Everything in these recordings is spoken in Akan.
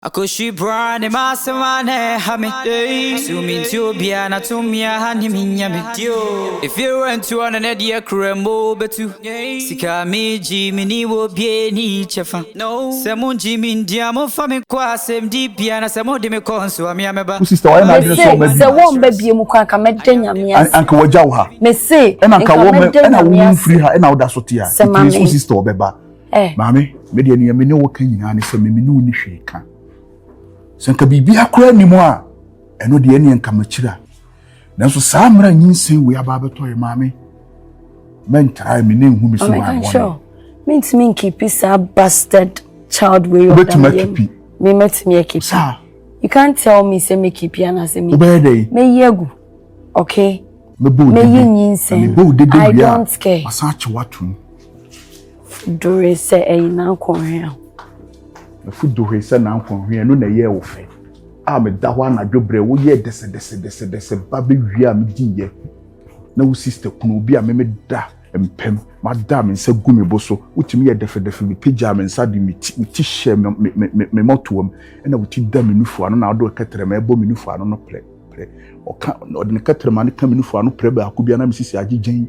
Akɔhwi braa ne ma asɛm a na ɛha me So mentie obiara na to mmea ha ne me nya me Efie rɛntu ɔno ne deɛ kura mu o bɛtu Sika a megye meni wɔ obiara ni kyɛfa Sɛ mongye me ndi a momfa me nkɔ asɛmdi bea Na sɛ mode me kɔ nso a me a mɛba Mese sɛ wɔmma biom kɔ anka mɛda Nyame ase Mese nka mɛda Nyame ase Sɛ ma me. Eh. Maame, me deɛ nea me ne wo ka nyinaa ne sɛ me me ne wo ni hwee ka. Sɛ nka biribi akora anim a, ɛno deɛ ɛneɛ nka makyira. Nanso saa mmara nyinsɛn wei aba abɛtɔ yɛ maame. Mɛntrae me ne nhu me so hɔ abɔne. Mentumi nkipi saa bastard child wei ɔdam yɛ. Wobɛtumi akipi. Me mɛtumi akipi. Saa. You can't tell me sɛ mekipi anaasɛ me. Wobɛyɛ dɛ. Mɛyi agu. Okay. Mɛbɔ wo dede. Mɛyi nyinsɛn. Mɛbɔ wo dede wia. I don't care. Wasan akyewa tom. Dore sɛ ɛyɛ n'akɔnhwea. Ɛfu dore sɛ n'akɔnhwea ɛno na ɛyɛɛ wo fɛ. A meda hɔ anadwo berɛ woyɛɛ dɛsɛdɛsɛdɛsɛdɛsɛ ba bɛwie a mediiɛ na wo sista kunu obi a meme da mpam mada me nsa gu me bo so wotumi yɛ dɛfɛdɛfɛ mepagyaa me nsa de me ti wo ti hyɛ me me me me me mɔtoam ɛna wo ti da me nufu ano na ɔde kɛtɛrɛma ɛbɔ me nufu ano no prɛ prɛ ɔka ɔde ne kɛtɛrɛma no ka me nufu ano prɛ baako bi ana me sisi agyegyan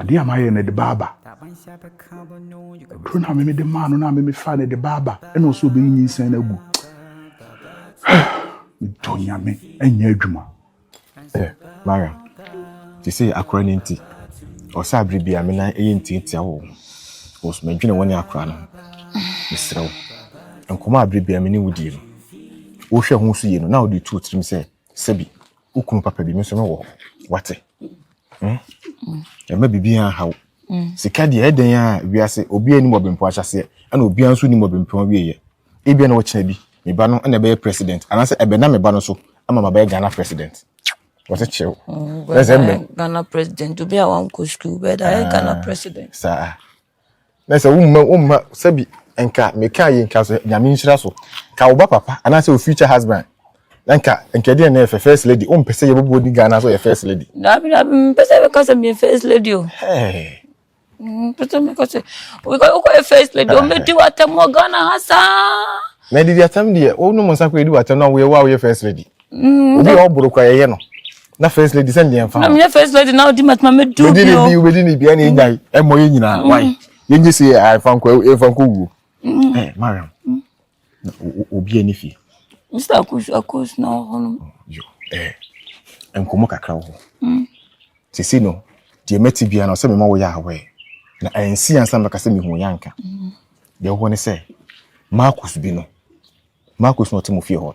Adeɛ a mayɛ no de ba aba. Aduro no a meme de maa no no a meme faa no de ba aba. Ɛna ɔsɛ ɔbɛyi nyinsɛn no agu. Medɔ nyame ɛnyɛ adwuma. Ɛ Mariam, te sɛ akora no nti, ɔsɛ abere bi a me nan ɛyɛ ntiatia wɔ ho. Ɔsɛ madwene wɔne akora no ho. Mesrɛ wo, nkɔmɔ a abere bi a me ne wo die no, wohwɛ ho so yie no na wode tu wo tirim sɛ sɛbi wo kunu papa bi me nso mewɔ hɔ. Wate? Hmm? ɛma biribiara ha wo hmm. sika deɛ ɛdɛn a wiase obiara nim ɔbɛmpo ahyɛseɛ ɛna obiara nso nim ɔbɛmpo awieɛ ebia na wɔkyena bi me ba no ɛna ɛbɛyɛ president anaasɛ ɛbɛna me ba no so ama ma bɛyɛ ghana president wɔte kyɛw ɛsɛ mbɛ ghana president obi a wankɔ sukuu bɛda ɛyɛ ghana ah, president saa na sɛ womma womma sɛbi nka meka yi nka sɛ nyame nhyira so ka wo ba papa anaasɛ wo future husband na nka nka ɛdeɛ na ɛfɛ first lady wompɛ sɛ yɛbɛbɔ di ghana sɛ ɔyɛ first lady daabi daabi mpɛ sɛ bɛka sɛ meyɛ first lady o Hey. mpɛ sɛ meka sɛ wokɔ- wokɔyɛ first lady ɔmɛdi w'atɛm wɔ ghana ha saa na didi atam deɛ wonom nsa kɔ ɛdi w'atam na woyɛ wo a woyɛ first lady Mm, obi a ɔboro kora yɛyɛ no na first lady sɛ ndeɛ nfa ho. na meyɛ first lady na ɔdi matuma mɛ du bi o. wobɛdi ne bi ɛna ɛnya yi ɛmɔ yɛ nyinaa mm. wai yɛnye se ɛfa nkɔ ɛfa nkɔ wuo. Mm. ɛ eh, mariam mm. na obi ani fie. mr akosu akosu na ɔhɔ no. Oh, yo ɛɛ eh, nkɔmɔ kakra wɔ hɔ. sisi no deɛ mɛti bia na ɔsɛ mɛma wɔyɛ awɛ na ɛnsi ansa mɛka sɛ mehu yɛ anka deɛ ɔwɔ ne sɛ marcus bi no marcus na ɔte mo fie hɔ no.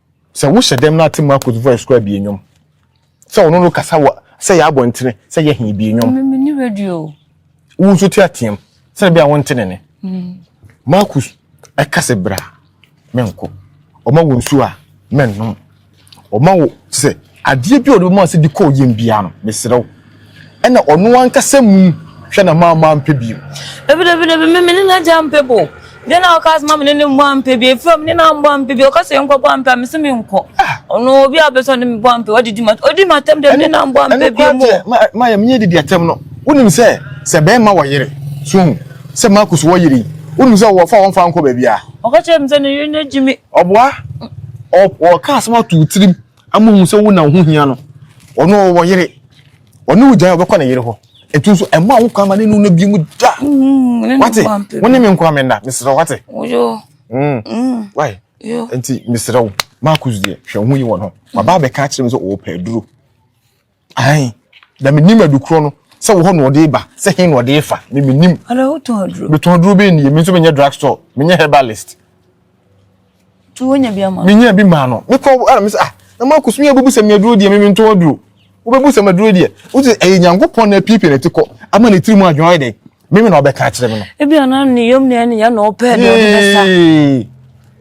Sɛ wohyɛ dɛm na atse Marcus voice koraa bie nwom. Sɛ ɔno no kasa wɔ sɛ yɛ abɔntene sɛ yɛ he bie nwom. Meme ne radio o. Wo nso te ateam sɛ ɛbɛa wonte ne ne. Marcus ɛka sɛ bra menkɔ. Ɔma wo nsuo a mɛnnom. Ɔma wo sɛ. Adeɛ bi a ɔde bɛma sɛ de kɔ ɔyam biara no, mesrɛ wo, ɛna ɔno ankasa mum hwɛ na mamma ampɛ bio. Dabidabidabi, me, me ne n'agya ampɛ bo. Deɛ na ɔka sɛ ma me ne no mmɔ ampɛ bio. Ɛfiri a me ne no ammɔ ampɛ bio. Ɔka sɛ yɛnkɔbɔ ampɛ a, mese menkɔ. Ɔno, obi a ɔpɛ sɛ ɔne me bɔ ampɛ, wadi m'atam. Ɔdi m'atam deɛ, me ne no ammɔ ampɛ bio. Ɛno koraa deɛ, Maya, menyɛ didi atam no. Wonim sɛ, sɛ bɛrima wɔ yere, so wohu, sɛ Marcus wɔ yere yi, wonim sɛ wɔfa a wɔmfa nkɔ baabiara. Ɔka kyerɛɛ me sɛ ne yere no agyi me. Ɔboa, ɔ, ɔka asɛm ato wo tirim. Ama ohu sɛ wo na wo ho hia no. Ɔno ɔwɔ yere. Ɔne wo gyae ɔbɛkɔ ne yere hɔ. Ɛtu nso ɛma wo kwan ma ne nu no bi mu da. Mm, wate? Wo ne me nkoa me nna. Mesrɛ wate? Yo. Mm. Mm. Why? Yo. Nti mesrɛ wo. Marcus deɛ hwɛ ho yi wɔ no. Baba bɛka akyerɛ me sɛ ɔwɔ pɛ duro. Ae, na menim adukorɔ no, sɛ wo hɔ na ɔde ba, sɛ he na ɔde refa, me menim. Ɔdɔ wotɔn aduro? Metɔn aduro bɛn nie, me nso menyɛ drug store, menyɛ herbalist. Tu wonya bi ama? Menya bi maa no. Mekɔ ara me sɛ ah, na mo akoso mi abubu sɛ me aduro deɛ me mentɔn aduro. Wobɛbu sɛ me aduro deɛ. Wote ɛyɛ Nyankopɔn na apiepie ne ti kɔ ama ne tiri mu adwene ayɛ dɛn? Meme na ɔbɛka akyerɛ me no. Ebi ana ne yam ne ne ya na ɔpɛ deɛ ɔde bɛsa.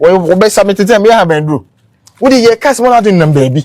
Wɔbɛsa me tete a meyɛ ha bɛn duro. Wode yɛ kas mo na ade nam baabi.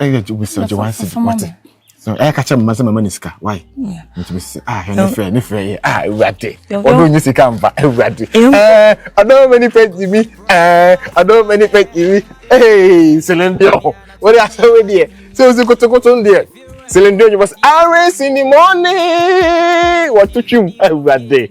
ɛyɛ ju bisa ju wansi wate so ɛyɛ kakyɛ mma sɛ mama ne sika why nti mi sɛ ah ɛne fɛ ne fɛ yɛ ah ewurade ɔno nye sika mba ewurade ɛɛ ɔdɔn mɛ ni fɛ ti mi ɛɛ ɔdɔn mɛ ni fɛ ti mi ee selende ɔhɔ o de asɛ wo deɛ sɛ o si kotokoto deɛ selende ɔnyɛ bɔ sɛ awe si ni mɔni wɔtutwi mu ewurade.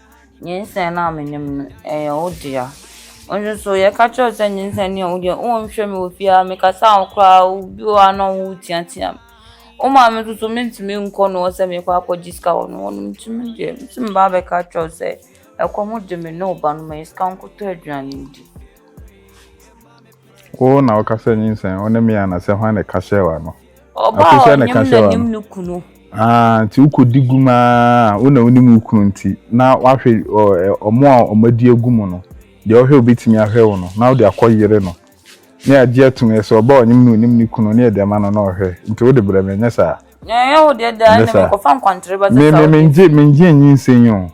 Nyinsɛn no a minyim no, ɔyɛ wo dea. Wo so so yɛka kyerɛ wo sɛ nyinsɛn no yɛ wo dea, wonnhwɛ me wɔ fie ha, mekasa wo koraa a, bi wɔ hɔ a nna wo tseatsea me. Wo maame no so menntse nnkɔ no hɔ sɛ merekɔ akɛgye sika wɔ no hɔ, ntsi me deɛ mese mebaa abɛka akyerɛ wo sɛ ɛkɔm de me ne wo ba no, ma yɛ sika nkɔtɔ eduane ndi. Wo na wo ka sɛ nyinsɛn, wo ne me ana sɛ hwan na ɛka hyɛɛ w'ano? Ɔba a ɔnyem n'anim no kunu. Ah, nti wokɔdi gum aa, wo na wonim wo kunu nti, na woahwe wɔn a wɔadi agu mu no, deɛ ɔhwɛ a ɔbɛtumi ahwɛ wo no, na wode akɔ yere no. Ne agye atom yɛ sɛ ɔba a ɔnyem no ɔnim ne kunu, ne yɛde ama no na ɔhwɛ, nti wode brɛ me, ɛnyɛ saa? Ɛnyɛ wo deɛ daa, ɛnna mekɔfa nkwantere ba sɛ sɛ wode. Me, me, mengye, mengye nyinsɛn o.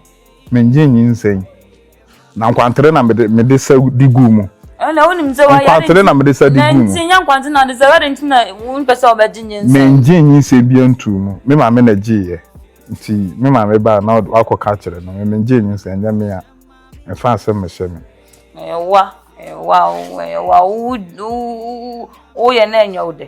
Mennye nyinsɛn. Na nkwantere na mede mede sa di guu mu. Ɛno na wonim sɛ wayɛ nkwantere na mede sa di guu mu. Nanti nyɛ nkwantere na ɔde sa wɛde nti na wompɛ sɛ ɔbɛgye nyinsɛn. Mennye nyinsɛn bia ntuu mu. Me maame na gyeeɛ. Nti me maame baa na wakɔ ka akyerɛ no. Me mengyee nyinsɛn ɛnyɛ me a ɛmfa asɛm mehyɛ me. Ɛyɛ wa ɛyɛ wa wo ɛyɛ wa wo wo wo woyɛ na ɛnyɛ wo dɛ.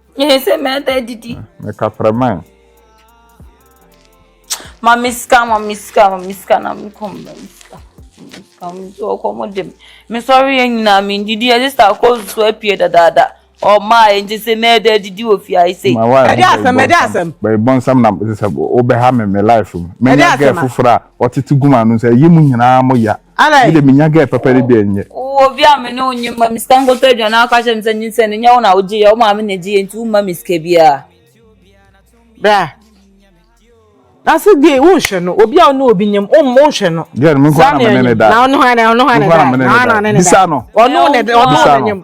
Yɛ sɛ mɛda didi. Meka prɛman. Ma me sika, ma me sika, ma me sika na me kɔm na me sika. Sika me so ɔkɔ mo dem. Me sɔre yɛ nyinaa me didi yɛ sista kɔ so apie dadaada. Ɔma yɛ nti sɛ mɛda didi wɔ fi ayi sei. Ɛde asɛm, ɛde asɛm. Bɛyɛ bɔnsam na sɛ wobɛha me me life mu. Menya gɛ foforɔ a ɔtete guma no sɛ yi mu nyinaa mo ya. Alai. Mede menya gɛ papa de deɛ nyɛ. Wo obi a me ne wo nye ma me sika nkoto aduane a ɔka kyerɛ me sɛ nyinsɛn no nyɛ wo na wogye yɛ wo maame na gye yɛ nti womma me sika biara. Bra. Na se die wo nhwɛ no obi a wo ne obi nyem wo mmo nhwɛ no. Gɛ no me nko na me ne ne da. Na ɔno hwan na ɔno hwan na da. Ɔno ne ne da. Bisa no. Ɔno ne da ɔno ne nyem.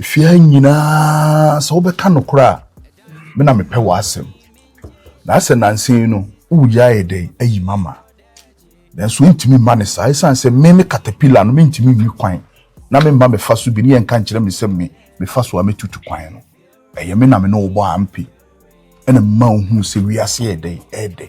Fie ha nyinaa sɛ wobɛka nokorɛ a me na mepɛ w'asɛm na sɛ nansa yi no woyɛ ayɛ dɛn ayi mama nanso wontumi mma ne saa ɛsiane sɛ me me katapila no mentumi nyi kwan na memma mefa so bi ne yɛnka nkyerɛ me sɛ me mefa so a mɛtutu kwan no ɛyɛ me na me ne wobɔ ampe ɛna mma wohuu sɛ wiase yɛ dɛn ɛdɛ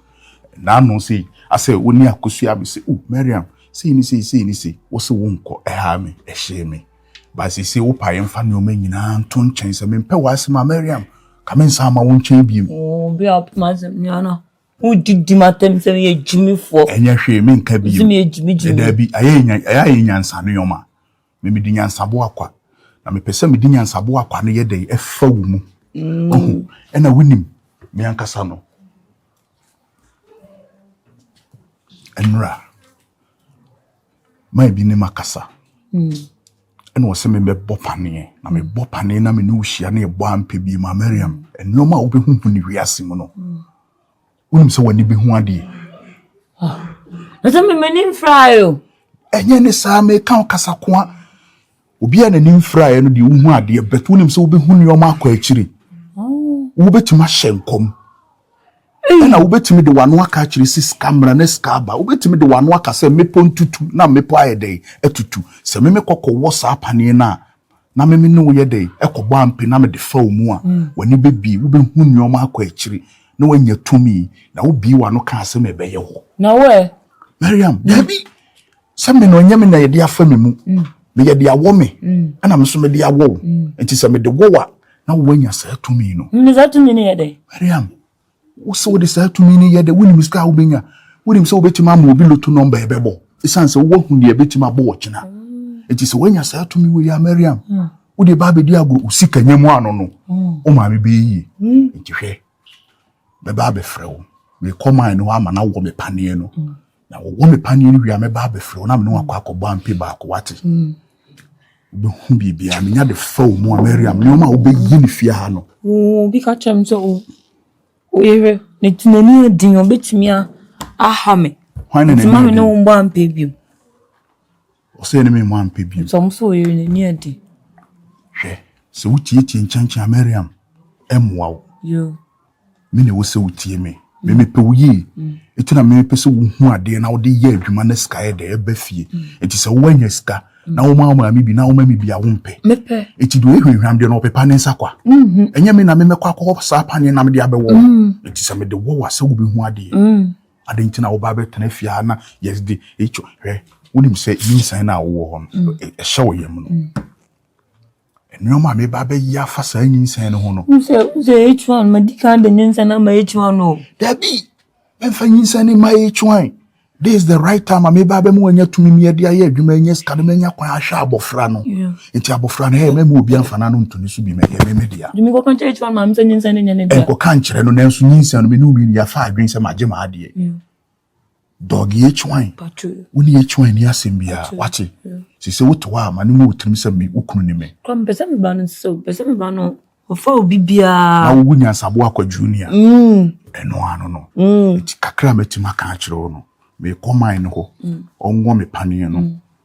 Ɛnnɛ ano sei, asɛ wo ne akosua me sɛ, oh, Mariam, sei ne sei, sei ne sei. Wo se wonkɔ, ɛhaa me, ɛhyee me. But seesei wo pae mfa nneɛma nyinaa nto nkyɛn sɛ mempɛ w'asɛm a, Mariam, ka me nsan ma wo nkyɛn bio. Oh, obi a ɔpɛ m'asɛm nyinaa no, wodidi m'atɛm sɛ meyɛ gyimifoɔ. Ɛnyɛ hwee, menka bio. Sɛ meyɛ gyimigyimi. Daabi, ayɛ ayɛ nyansa no yɔma. me mede nyansaboa kwa na mepɛ sɛ mede nyansaboa kwa no yɛ dɛn ɛfa wo mu mm. ɔhu ɛna wonim me ankasa no ɛnora ma ebi ne ma kasa mm. ɛna ɔsɛ me mɛbɔ paneɛ na mebɔ paneɛ na me ne wo hyia na yɛbɔ ampɛ bi ma mariam mm. nneɛma a wobɛhuhu ne wiase mu no Wonim sɛ w'ani bɛhu adeɛ. Ah, na sɛ memani mfraeɛ o. Ɛnyɛ ne saa meka wo kasakoa. Obi a n'ani mfraeɛ no deɛ wohu adeɛ bɛt wonim sɛ wobɛhu nneɛma akɔ akyiri. Oh. Wobɛtumi ahyɛ nkɔm. Ɛna wobɛtumi de w'ano aka akyerɛ si sika mmara ne sika aba. Wobɛtumi de w'ano aka sɛ mmepɔ ntutu na mmepɔ ayɛ dɛn atutu. Sɛ memekɔ kɔwɔ saa paneɛ no a na me me ne wo yɛ dɛn kɔbɔ ampe na mede fa wo mu a, w'ani bɛbie, wobɛhu nneɛma akɔ akyiri, na woanya tumi. Na wobue w'ano kaa sɛ, Mebɛyɛ hɔ. Na wo ɛ? Mariam, Daabi, sɛ me no, ɛnyɛ me na yɛde afa me mu. Meyɛ de awɔ me, ɛna me nso mede awɔ wo. Enti sɛ mede wɔ wo a, na woanya saa tumi no. Na saa tumi no yɛ dɛn? Mariam, Wo sɛ wode saa tumi no yɛ dɛ, wonim sika a wobɛnya. Wonim sɛ wobɛtumi ama obi loto nɔmba ɛbɛbɔ ɛsiane sɛ woahu deɛ ɛbɛtumi abɔ wɔ kyena. Nti sɛ woanya saa tumi wei a Mariam, wode ba abɛdi agorɔ, wo sika nya mu ano no, wo maame bɛyɛ yie. Nti hwɛ, mɛba abɛfrɛ wo, merekɔ mine hɔ ama no awɔ me paneɛ no. Na wɔwɔ me paneɛ no wie a mɛba abɛfrɛ wo na mene wakɔ akɔbɔ ampe baako wate hmm. wobɛhu biribiaa menya de fa wo mu a mariam nneɔma a wobɛyi ne fie ha no obi ka kyerɛ m sɛ oyere ne tenani adin ɔbɛtumi aha me nti ma me ne wo mbɔ ampe bio Ɔsɛ yɛne me mma ampɛ bio. Nso ɔmo sɛ ɔyere no ani adi. Hwɛ, sɛ wo tietie nkyɛnkyɛn a Mariam ɛmmoa wo. Yoo. Me na ɛwɔ sɛ wo tie me. Me me pɛ wo yie. Eti na me me pɛ sɛ wo hu adeɛ na wode yɛ adwuma na sika yɛ dɛ ɛba fie. Eti sɛ wo anya sika na wo ma wo maame bi na wo ma me bi a wo mpɛ. Me pɛ. Eti deɛ ɔyɛ hwamhwam deɛ no ɔpepa ne nsa kwa. Ɛnyɛ me na me mɛkɔ akɔ hɔ saa paneɛ na me de abɛwɔ wo. Eti sɛ me de wɔ wo a sɛ wo bɛ hu adeɛ. Adɛn nti na woba abɛtena fie ha na yɛde ɛtwa hwɛ wonim sɛ nyinsɛn no a wowɔ hɔ no mm. ɛhyɛ wo yam no mm. nneɛma a meba abɛyɛ afa saa nyinsɛn no ho no sɛ ɛtwa no madi kan de nyinsɛn ama ɛtwa no daabi mɛmfa nyinsɛn no ma ɛtwa this is the right time a meba abɛma wanya tumi mi ɛde ayɛ adwuma ɛnyɛ sika no manya kwan ahwɛ abɔfra no yeah. nti abofra no hɛ mɛmu obi amfa n'ano nto ne so bi mɛyɛ me me dea dumi kɔka nkyerɛ kyerɛ maame sɛ nyinsɛn no nyɛ ne dea ɛnkɔka nkyerɛ no nanso nyinsɛn no mene obi nua fa adwene sɛ magye ma adeɛ dɔg yɛ kywan wo ne yɛ kywan ni asɛm biara wate sɛ sɛ wote hɔ a ma no mu wotirim sɛ me wokunu ne me kɔ mpɛ sɛ meba no sɛ mpɛ sɛ meba no ɔfa obi biara na wowu nyansabo akwadwo ni a mm. ɛno ano no mm. nti kakra a matumi aka akyerɛ wo no mekɔ man no hɔ mm. ɔnwɔ me paneɛ no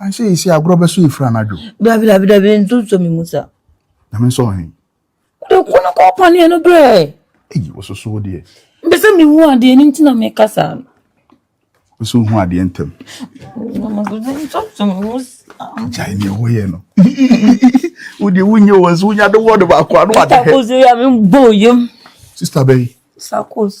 Ansɛ yi sɛ agorɔ bɛso efiri anadwo. Dabi dabi dabi nso sɔ mi mu sa. Na mi nsɔ ɔhen. Wode ko no kɔ paneɛ no brɛ. Eyi wososo deɛ. Mpɛ sɛ mi hu adeɛ ni nti na mi ka saa no. Mpɛ sɛ ohu adeɛ ntɛm. Nso sɔ mi mu sa. Gyae nea wɔyɛ no. Wode wonyɛ wɔ nso wonya de wɔ de baako ano ade hɛ. Sakos yɛ me mbɔ yam. Sista bɛyi. Sakos.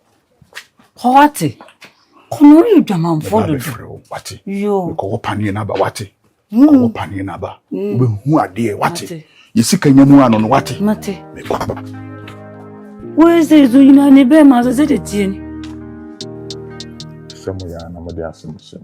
Kɔ wate. Kɔ no yɛ dwamanfoɔ dodo. Mɛba bɛfrɛ wo wate. Yoo. Kɔ wɔ paneɛ no aba wate. Hmm. Kɔ wɔ paneɛ no aba. Hmm. Wobɛhu adeɛ wate. Yɛ sika nya mu ano no wate. Mate. Mɛkɔ aba. Woyɛ sɛ ɛso nyina ne bɛɛ ma sɛ sɛ de tie ni. Sɛ mo yɛ anamode asɛm sɛm.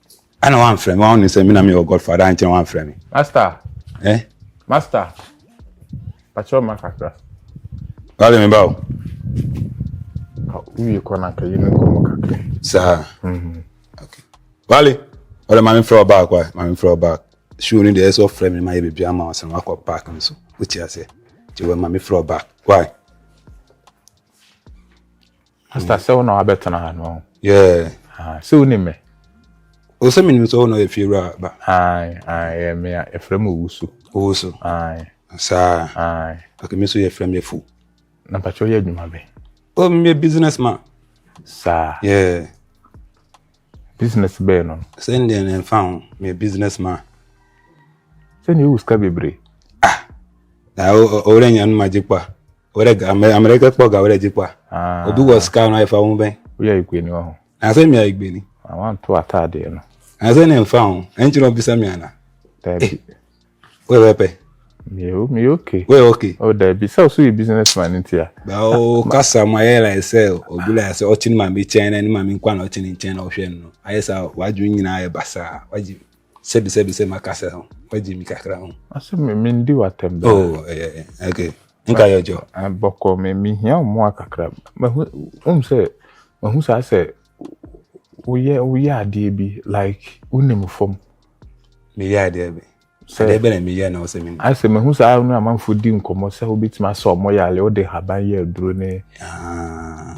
Ana wan frɛ me wan ne sɛ me na me wɔ godfather ankyɛ wan frɛ me. Master. Eh. Master. Patrol ma kakra. Wale me ba o. Uye kɔ na ka yɛn nkɔmɔ kakra. Saa. Mhm. Okay. Wale. Wale maame frɛ ɔbaa kwa maame frɛ ɔbaa. Show ni deɛ ɛsɛ ɔfrɛ mi ma yɛ bebi ama ɔsan wakɔ park nso. Wotia sɛ. Ti wɔ maame frɛ ɔbaa. Why? Pastor mm. sɛ wo na wabɛtena ha no. Yeah. Ah, sɛ wo ne me. O sɛ menim sɛ wo na yɛ fie wura ba. Ae, ae, yɛ me a yɛfrɛ me Owusu. Owusu. Ae. Saa. Ae. Pake me so yɛfrɛ me Afu. Na mpakyɛ woyɛ adwuma bɛn? O oh, meyɛ business man. Saa. Yeah. Business bɛn no? Sɛ ndeɛ ne mfa ho, meyɛ business man. Sɛ ne yɛ wo sika bebree? Ah, na ɔwura nya no magye kwa. wɛrɛ amɛrɛkɛ kpɔ ga wɛrɛ dikpa ah. obi wɔ sika no ɛfa ho bɛn woyɛ igbeni wɔ ho asɛ mia igbeni awanto ah, ataadeɛ no asɛ ne mfa ho ɛnkyerɛ ɔbisa mi ana daabi eh, woyɛ bɛpɛ meyɛ meyɛ okay woyɛ okay o oh, daabi sɛ ɔso yɛ business man nti a bawo kasa mu ayɛ like sɛ obi like sɛ ɔkye ne maame kyɛn na ne maame nkwa na ɔkye ne nkyɛn na ɔhwɛ no ayɛ sɛ wadwo nyinaa ayɛ basaa wagye Sɛbi sɛbi sɛ ma kasa ho, ma gye mi kakra ho. Ɔsɛ me me ndi w'atɛm bɛɛ. Oh, ɛyɛ eh, eh, eh, okay, nka yɛ ɔjɔ. Ah, bɔkɔ me me hia ɔmoa kakra. Mahu, um sɛ, mahu saa sɛ woyɛ woyɛ adeɛ bi like wonim fam. Meyɛ adeɛ bi. Sɛ adeɛ bɛ na meyɛ na ɔsɛ menim. Asɛ mahu saa no amanfo di nkɔmmɔ sɛ wobɛtumi asɛ ɔmɔ yɛ ale wode haban yɛ aduro ne. Ah.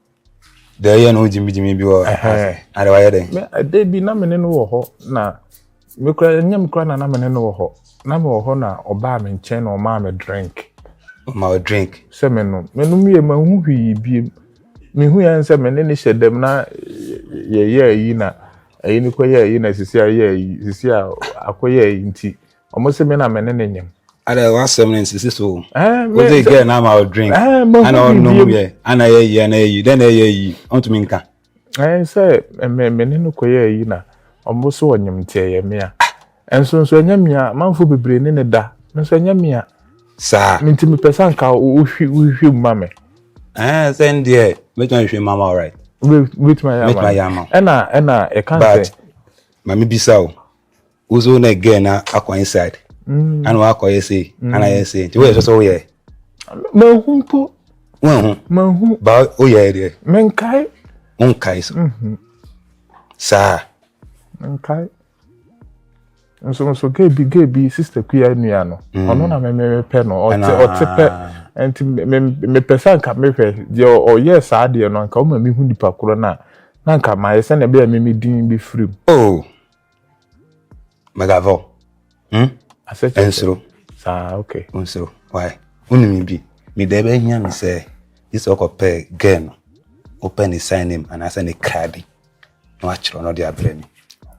deɛ ɔyɛ no gyimigyimi bi wɔ na deɛ wayɛ dɛn ɛda bi na mene no wɔ hɔ na mekura ɛnyɛ mekura na na mene no wɔ hɔ na mewɔ hɔ na ɔbaa me nkyɛn na ɔmaa me drink ɔma wo drink sɛ menom menom yɛ mahu hwii biem mehu yɛ sɛ mene ne hyɛ dɛm na yɛyɛ ayi na ɛyi ne kɔyɛ ayi na sisi a yɛ ayi sisi a akɔyɛ ayi nti Ɔmo se me na me ne ne nyem. Ada w'asɛm no nsisi so o. Eh, me- Wodze girl no ama wo drink, Eh, mahu ana ɔnom biribiara. yɛ, ana ɛyɛ yi, ana ɛyɛ yi, dɛn na ɛyɛ yi, ɔntumi nka. Ɛn sɛ me me ne no kɔyɛ ayi na ɔmo so ɔnyem nti ɛyɛ mea. Ɛnso nso ɛnyɛ mea, manfo bebree ne ne da. Me nso ɛnyɛ mea. Saa. Me nti mepɛ sɛ anka wohwi wohwehwɛ mu ma me. Eh, sɛ n deɛ, mɛtumi ahwehwɛ mu ama wo, right? Wobɛ- Wobɛtumi ayɛ ama Mɛtumi me. ayɛ ama wo. Ɛna ɛna ɛka But, sɛ ma mebisa o, Uzo na girl na akɔ inside. Mm. Ana wakɔ yɛ sei, mm. ana yɛ sei. Nti woyɛ sɛ sɛ woyɛ. Manhu mpo. Wanhu. Manhu. Ba woyɛ deɛ. Menkae. Wonkae so. Mhm. Saa. Menkae. Nso nso gay bi gay bi sister kuya nua no. Mm. Ɔno na memepɛ no. Ɔte ɔte pɛ. Nti mepɛ sɛ nka mehwɛ deɛ ɔyɛ saa deɛ no nka woma mehu nipa korɔ no a na nka mayɛ sɛnea ɛbɛyɛ me me din bɛfiri mu. Oh. magavɔ hmm? ɛnsoro nsoro why wonim bi meda bɛhia me sɛ gye sɛ ɔkɔpɛ gɛ no wopɛ ne sign name anaasɛ ne kra bi na wakyerɛ no de abrɛ me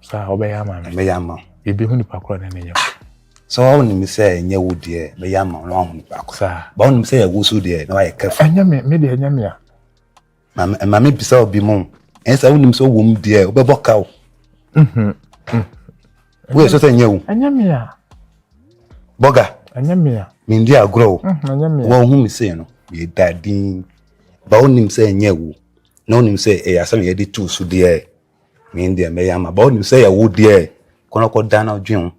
saa wobɛyɛ ama me mɛyɛ ama biribi ho nipa korɔ ne ne nyɛ sɛ wonim sɛ ɛnyɛ wo deɛ mɛyɛ ama wo na wahu nipa korɔ ba wonim sɛ yɛwo so deɛ na wayɛ kɛfo ɛnyɛ me me deɛ ɛnyɛ me a Maame, maame bisa obi mu. Ɛyɛ sɛ wonim sɛ wom deɛ wobɛbɔ ka o. Mhm, mhm. Woyɛ sɛ sɛ nyɛ wo. Ɛnyɛ me a. Bɔga. Ɛnyɛ me a. Mendi agorɔ o. Mhm, ɛnyɛ me a. Wɔhu me sei no, meda din. Ba wonim sɛ ɛnyɛ wo. Na wonim sɛ ɛyɛ asɛm a yɛde tu so deɛ. Me deɛ mɛyɛ ama. Ba wonim sɛ ɛyɛ wo deɛ. Kɔnɔkɔ dan na dwen ho.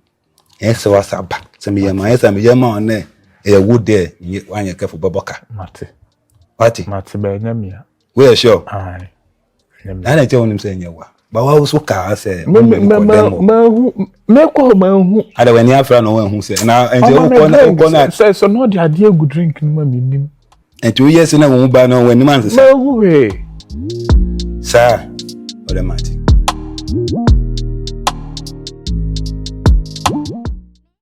Ɛyɛ sɛ wasa aba. Sɛ meyɛ ma, ɛyɛ sɛ meyɛ ma wɔn dɛ ɛyɛ wo dɛ nye wanyɛ kɛfo bɛbɔ ka. Mate. Wate. Mate bɛyɛ nyɛ mia. Woyɛ sure. Ayi. Na na kyɛ wɔn sɛ nyɛ wa. Ba wa so ka sɛ. Mɛ mɛ mɛ mɛ mɛ hu mɛ kɔ mɛ hu. Ada wɛni afra na wɔn hu sɛ na ɛnti wokɔ na wokɔ na. Sɛ sɛ n'ɔde adeɛ gu drink no ma mi nim. Nti woyɛ sɛ na wɔn ba no wɔn anim ansesa. Maa hu hwee. Saa ɔdɛ mate.